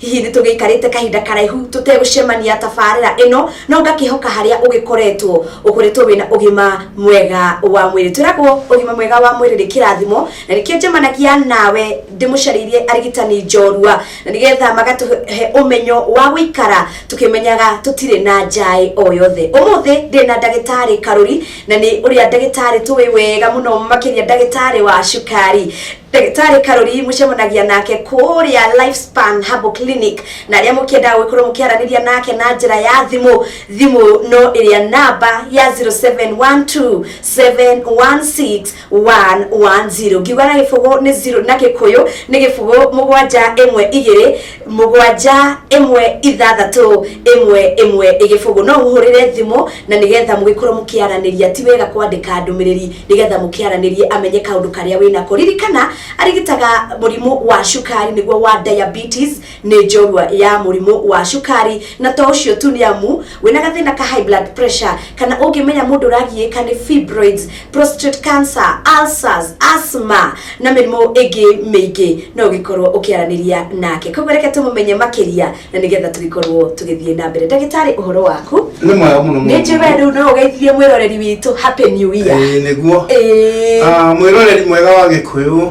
Hihi nĩ tũgĩikarĩte kahinda karaihu tũtegũcemania tabarĩra ĩno, no ngakĩhoka harĩa ũgĩkoretwo ũkoretwo wĩna ũgima mwega wa mwĩrĩ. Twĩragwo ũgima mwega wa mwĩrĩ nĩ kĩrathimo, na nĩkĩo njemanagia nawe ndĩmũcarĩirie arigitani njorua, na nĩgetha magatũhe ũmenyo wa gũikara tũkĩmenyaga tũtirĩ na njaĩ o yothe. Ũmũthĩ ndĩ na ndagĩtarĩ Karũri, na nĩ ũrĩa ndagĩtarĩ tũĩ wega mũno makĩria ndagĩtarĩ wa cukari. Ndagĩtarĩ Karori mũcemanagia nake kũrĩa Lifespan Herbal Clinic na arĩa mũkĩendaga gũgĩkorwo mũkĩaranĩria nake na njĩra ya thimũ, thimũ no ĩrĩa namba ya 0712716110 ngiuga na gĩbũgũ nĩ zero, na gĩkũyũ nĩ gĩbũgũ mũgwanja ĩmwe igĩrĩ. mũgwanja ĩmwe ithathatũ ĩmwe ĩmwe ĩgĩbũgũ no mũhũrĩre thimũ na nĩgetha mũgĩkorwo mũkĩaranĩria ti wega kwandĩka ndũmĩrĩri nĩgetha mũkĩaranĩrie amenye kaũndũ karĩa wĩnako ririkana arigitaga mũrimũ wa cukari nĩguo wa diabetes nĩ njorua ya mũrimũ wa cukari na to ũcio tu nĩ amu Wĩna gathĩna ka high blood pressure kana ũngĩmenya mũndũ ũragiĩka nĩ fibroids, prostate cancer, ulcers, asthma na mĩrimũ ĩngĩ mĩingĩ no ũgĩkorwo ũkĩaranĩria nake. Koguo reke tũmũmenye makĩria na nĩgetha tũgĩkorwo tũgĩthiĩ na mbere. Ndagĩtarĩ ũhoro waku? nĩ mwega mũno Nĩ njũĩ we rĩu no ũgeithie mwĩroreri witũ happy new year. Ĩĩ, nĩguo Ĩĩ. Ah, mwĩroreri mwega wa gĩkũyũ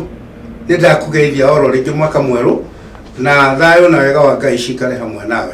nĩ ndakũgeithia oro rĩngĩ mwaka mwerũ na thayũ na wega wa ngai cikare hamwe nawe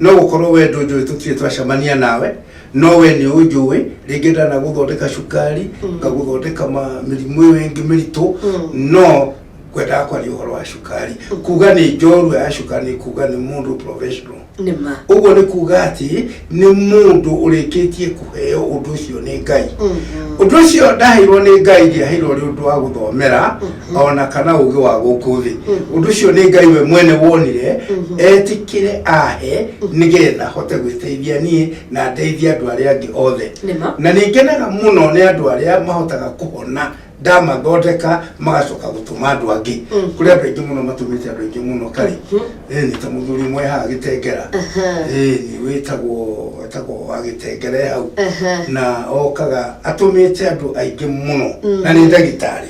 no gũkorwo we ndũnjũĩ tũtirĩ twacemania nawe no we nĩ ũnjũĩ rĩngĩ ndanagũthondeka cukari ngagũthondeka ma- mĩrimũ ĩyo ĩngĩ mĩritũ no ngwendaga kwaria ũhoro wa cukari kuga nĩ njorua ya cukari nĩ kuga nĩ mũndũ professional nĩ ma ũguo nĩ kuga atĩ nĩ mũndũ ũrĩkĩtie kũheo ũndũ ũcio nĩ ngai ũndũ ũcio ndaheirwo nĩ ngai ndiaheirwo ũrĩ ũndũ wa gũthomera ona kana ũgĩ wa gũkũ thĩ ũndũ ũcio nĩ ngai we mwene wonire etĩkĩre ahe nĩgetha hote gwĩteithia niĩ na ndeithia andũ arĩa angĩ othe Nĩma. na nĩ ngenaga mũno nĩ andũ arĩa mahotaga kũhona ndamathondeka magacoka gũtũma andũ angĩ kũrĩ andũ aingĩ mũno matũmĩte andũ aingĩ mũno karĩ Eh, nĩ ta mũthuri ũmwe haha gĩtengera Eh, nĩ wĩtagwo wĩtagwo wa gĩtengere hau na okaga atũmĩte andũ aingĩ mũno na nĩ ndagĩtarĩ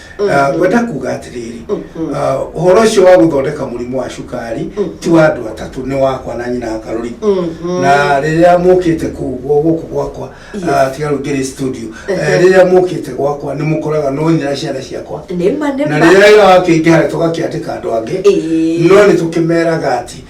Ah, ngwenda kuga atĩrĩrĩ ah, ũhoro ũcio wa gũthondeka mũrimũ wa cukari ti wa andũ atatũ nĩ wakwa na nyina akarũri na rĩrĩa mũkĩte kũu gwa- gũkũ gwakwa ah, tiga rĩu ngĩrĩ studio eh, rĩrĩa mũkĩte gwakwa nĩ mũkoraga no nyina ciana ciakwa nĩma na nĩma rĩrĩa wĩra wakĩingĩha tũgakĩandĩka andũ angĩ Ĩĩ. no nĩ tũkĩmeraga atĩ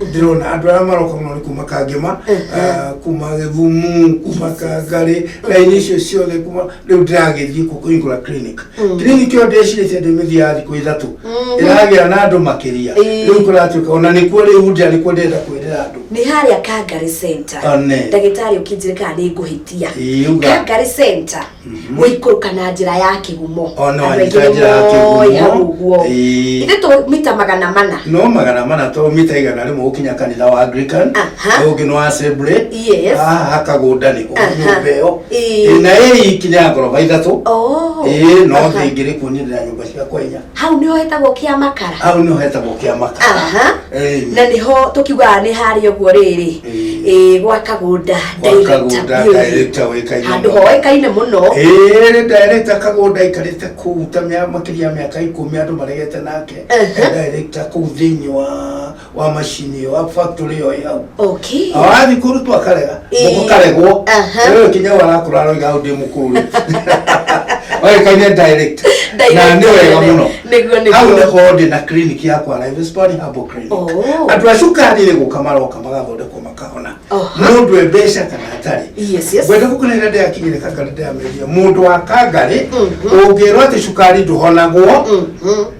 ndĩrona andũ arĩa maroka mũno nĩ kuma kangema ah, kuma gĩthumu kuma kangarĩ raini icio ciothe kuma rĩu ndĩragĩthiĩ kũ kũhingũra clinic clinic ĩyo ndĩcirĩtie ndĩmĩthiaga thikũ ithatũ ĩragĩa na andũ makĩria Ĩĩ. rĩu kũratuĩka ona nĩkuo rĩu ndĩa nĩkuo ndĩrenda kwĩrĩra andũ nĩ harĩa kangari center One. ndagĩtarĩ ũkĩnjĩre kana nĩ ngũhĩtia Ĩĩ, uga. kangari center Mhm. gũikũrũka na njĩra ya kĩgumo O na Andũ aingĩ wanyita njĩra ya nĩmoĩ kĩgumo. hau ũguo Ĩĩ. ithe tũ mita magana mana no magana mana to mita igana rĩmwe gũkinya kanitha wa anglican Aha. ũyũ ũngĩ nĩ wa Assembly. Yes. haha kagũnda nĩ Aha. nyũmba ĩyo Ĩĩ. Ĩĩ, na ĩĩ ikinya ngoroba ithatũ Oh. Ĩĩ, no Aha. ndĩngĩrĩ kuonire na nyũmba ciakwa inya hau nĩho hetagwo kĩa makara hau nĩho hetagwo kĩa makara Aha. Eh, na nĩho tũkiugaga nĩ harĩa ũguo rĩrĩ Eh. Eh, gwa kagũnda Kagũnda director wĩkaine handå mũno. hoĩkaine må no Ĩĩ, director kagũnda aikarĩte kũu ta mĩa- makĩria ya mĩaka ikũmi andũ maregete nake Ehe. director kũu thĩinĩ wa wa macini ĩyo wa factory ĩyo ĩhau okay awathiĩ kũrutwo akarega Ĩĩ. mũkũ karegwo Aha. ũyũ kinya warakũra aroiga hau ndĩ mũkũrũ oĩkaine direct na nĩ wega mũno nĩguo nĩguo. hau nĩkorwo ndĩ na clinic yakwa live sport herbal clinic Oh. andũ a cukari rĩ gũka maroka magathondekwo makahona Aha. mũndũ e mbeca kana atarĩ yes yes ngwenda gũkũnena ndĩakinyire kangarĩ ndĩameria mũndũ wa kangarĩ Mhm. ũngĩrwo atĩ cukari ndũhonagwo Mhm.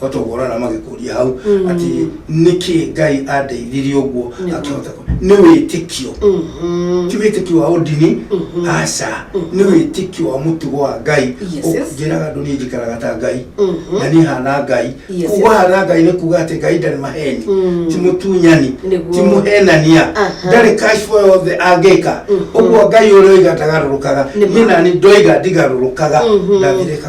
batogora na magikuria hau Mm. ati niki ngai andeithirie uguo Nĩguo. akihota ku- nĩ wĩtĩkio Mhm. ti wĩtĩkio wa ũndini Mhm. aca nĩ wĩtĩkio wa mũtugo wa ngai Yes, yes. njĩraga andũ niĩ njikaraga ta ngai Mhm. na niĩ hana ngai Yes, kuga yes. hana ngai nĩ kuga atĩ ngai ndarĩ maheni Mm. ti mũtunyani Nĩguo. ti mũhenania Aha. ndarĩ kashbo yothe angĩka Mhm. ũguo ngai ũrĩa oiga ndagarũrũkaga Nĩ ma. niĩ nani ndoiga ndigarũrũkaga Mhm. ndathirĩka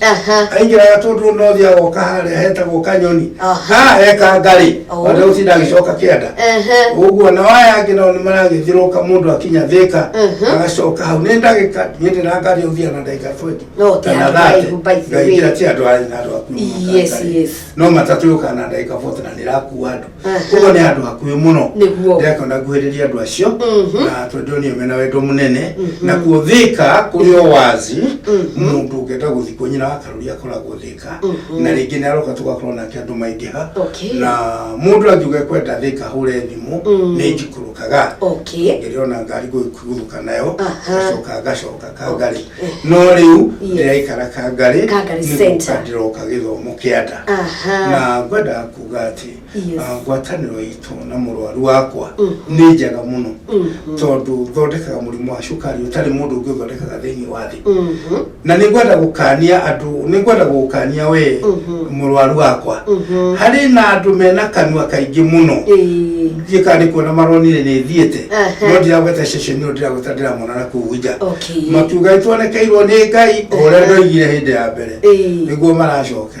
Aha. aingĩraga tũndũ no thiaga oka harĩa hetagwo kanyoni Aha. ha heka ngarĩ Oh. ona ũtinda agĩcoka kĩanda Aha. ũguo na waya angĩ nao nĩ maragĩthirũka mũndũ akinya thĩka Mhm. agacoka hau nĩ ndagĩka niĩ ndĩrangaria ũthia na ndagĩka 20 No, ti kana andũ 30. araihu, by the way. ngaingĩra ti andũ araihu na andũ akuru Yes, makangari. yes. no matatũ yũkaga na ndagĩka 40 na ndĩrakua andũ koguo nĩ andũ akuĩ mũno Nĩguo. ndĩrakĩona nguhĩrĩria andũ acio Mhm. na tondũ nĩ mena wendo mũnene na kuo thĩka kũrĩ o wazi mũndũ ũngĩenda gũthiĩ kuo nyina wa karũri akoragwo thĩka na rĩngĩ nĩ aroka tũgakorwo nake andũ maingĩha Okay. na mũndũ angiuga kwenda thĩka hũre thimũ nĩ njikũrũkaga okay ngĩrĩona ngari gũgũthũka nayo Aha. ngacoka ngacoka kangarĩ no rĩu Yes. ndĩraikara kangarĩ Kangarĩ nĩ gũka Center. ndĩroka gĩthomo kĩa nda aha na ngwenda kuga atĩ Ah, ngwatanĩro itũ na mũrwaru wakwa Mm. nĩ njega mũno Mm, mm, tondũ thondekaga mũrimũ wa cukari ũtarĩ mũndũ ũngĩ ũthondekaga thĩinĩ wa thĩ mhm, na nĩ ngwenda gũkania andũ nĩ ngwenda gũkania we Mhm. mũrwaru wakwa mhm. harĩ na andũ mena kanua kaingĩ mũno Ĩĩ. thiĩ kana nĩ kuona maronire nĩ thiĩte Aha. no ndiragweta ceceni ĩyo ndiragweta ndĩramona na kuu nja Okay. makiuga nĩ tuonekeirwo nĩ ngai o ũrĩa ndoigire hĩndĩ ya mbere Ĩĩ. nĩguo maracoka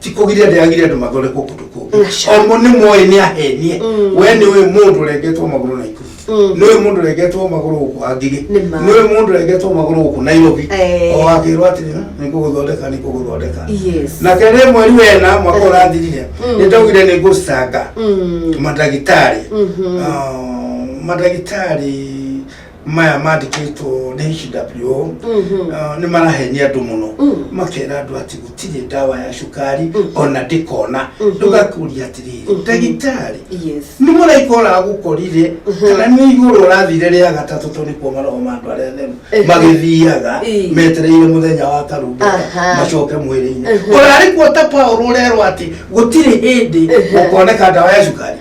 ti kugiria ndiragire andu mathondekwo kundu kungi Nasha. omo ni moe ni ahenie Mm. we ni uyu mundu urengetwo maguru na ikuru Mm. ni uyu mundu urengetwo maguru guku angige Nĩ ma. ni uyu mundu urengetwo maguru guku nairobi Eh. o akirwo atiri ni kuguthondeka ni kuguthondeka Yes. na kere mweri wena mwaka Eh. urathirire Mm. ni ndaugire ni ngucanga Mm. madagitari Mhm. Ah, madagitari maya mandĩkĩtwo nĩ HWO Mhm. ah, nĩ marahenia andũ mũno Mm. makera andũ atĩ gũtirĩ ndawa ya cukari ona ndĩkona Mhm. ndũgakũria atĩrĩrĩ Mhm. ndagĩtarĩ Yes. nĩ mũraika ũragũkorire Mhm. kana nĩ igũrũ ũrathire rĩa gatatũ tondũ nĩkuo maroho ma andũ arĩa atheru Ehe. magĩthiaga Ii. metereire mũthenya wa karumbuka Aha. macoke mwĩrĩ-inĩ Ehe. ũrarĩ kuo ta paũrũ ũrerwo atĩ gũtirĩ hĩndĩ Ehe. ũkoneka ndawa ya cukari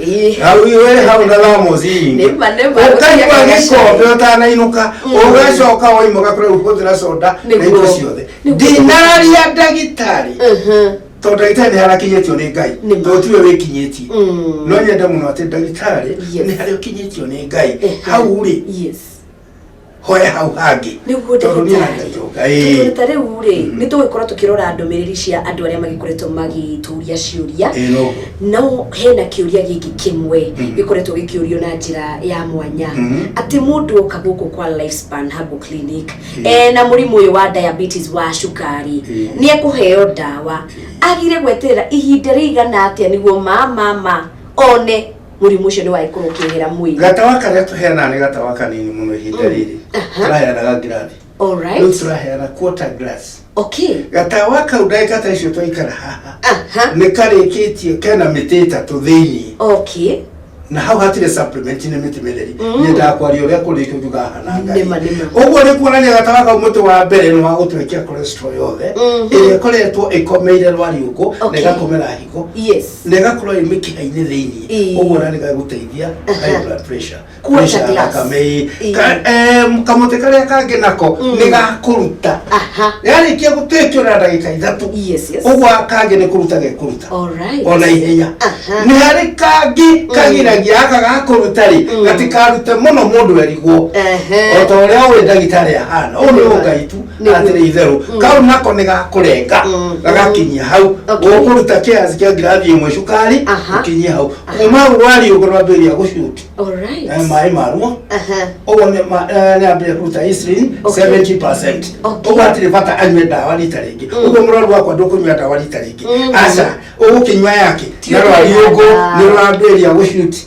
Ĩĩ. hau iwe hau na thamos ingi Nĩma, nĩma. ũkanyua gĩkombe ũtanainũka ũgacoka waimoka kũrĩa ũkũthĩra soda na Nĩguo. indo ciothe Nĩguo. ndinaria ndagĩtarĩ Mhm. tondũ ndagĩtarĩ nĩharakinyĩtio nĩ ngai Nĩma. tondũ tiwe wĩkinyĩtie Mm. no nyende mũno atĩ ndagĩtarĩ Yes. nĩ harĩa ũkinyĩtio nĩ ngai Ehe. hau rĩ Yes. hoya hau hangĩ nĩguo tondũ niĩ ndatũka ĩĩ ta rĩu rĩ Mhm. nĩ tũgũkorwo tũkĩrora ndũmĩrĩri cia andũ arĩa magĩkoretwo magĩtũria ciũria ĩĩ no no hena kĩũria gĩkĩ kĩmwe Mhm. gĩkoretwo gĩkĩũrio na njĩra ya mwanya Mhm. atĩ mũndũ oka gũkũ kwa lifespan herbal clinic Mhm. e na mũrimũ ũyũ wa diabetes wa cukari Mhm. nĩ ekũheo ndawa agire gweterera ihinda rĩigana atĩa nĩguo ma ma ma one mũrimũ ũcio nĩ waikũrũkĩrĩra mwĩrĩ gatawa karĩa tũheanaga nĩ gatawa kanini mũno ihinda rĩrĩ Aha. tũraheanaga ngirathi rĩu alright tũraheana quarter glass okay gatawa kau ndagĩka ta icio twaikara haha aha nĩ karĩkĩtio kena mĩtĩ ĩtatũ thĩinĩ okay na hau hatirĩ supplement nĩ mĩtĩ mĩtheri Mm. nyendaga kwaria ũrĩa kũrĩkio thutha hana Nĩma, ngai nĩma. ũguo nĩ kuonania gatawa kau mũtĩ wa mbere nĩ wa gũtwekia cholesterol yothe Mhm. ĩrĩa ĩkoretwo ĩkomeire rwariũngũ na Okay. ĩgakomera higo yes na ĩgakorwo ĩ mĩkiha-inĩ thĩinĩ Ĩĩ. ũguo na nĩgagũteithia Aha. high blood pressure Kuoca pressure ya glass. thakame ĩĩ. Ĩĩ. Ka- em, kamũtĩ karĩa kangĩ nako Mm. nĩgakũruta aha yarĩkia gũtekio na ndagĩka ithatũ yes yes ũguo kangĩ nĩ kũruta gekũruta all right ona ihenya Aha. nĩ harĩ kangĩ kagiragia aka gakũruta rĩ Mm. gatikarute mũno mũndũ erigwo Ehe. o ta ũrĩa ũĩ ndagĩtarĩ ahana ũyũ nĩ ũngai tu Nĩguo. atĩrĩ itherũ Mm. kau nako nĩ gakũrenga Mm. gagakinyia hau Okay. ũkũruta kiasi kĩa ngirathi ĩmwe cukari Aha. ũkinyie hau kuma rwari ũguo rwambĩrĩria gũcuti Alright. Eh, maĩ maruo Aha. ũguo nĩ ma- eh, nĩ ambĩrĩria kũruta insulin Okay. 70%. Okay. ũguo hatirĩ bata anyue ndawa rita rĩngĩ Mm. ũguo mũrwaru wakwa ndũkũnyua ndawa rita rĩngĩ Mm. aca ũgũkĩnyua yake Ti na rwari ũkũnyua ũguo ndawa. nĩ rwambĩrĩria gũcuti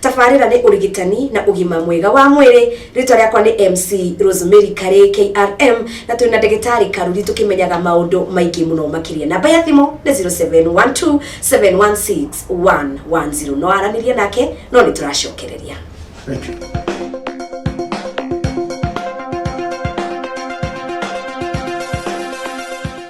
Tabarĩra nĩ ũrigitani na ũgima mwega wa mwĩrĩ. Rĩtwa rĩakwa nĩ MC Rosemary Karĩ KRM na twĩna ndagĩtarĩ Karuri tũkĩmenyaga maũndũ maingĩ mũno makĩria. Namba ya thimũ nĩ 0712 716 110. No aranĩrie nake no nĩ tũracokereria. Thank you.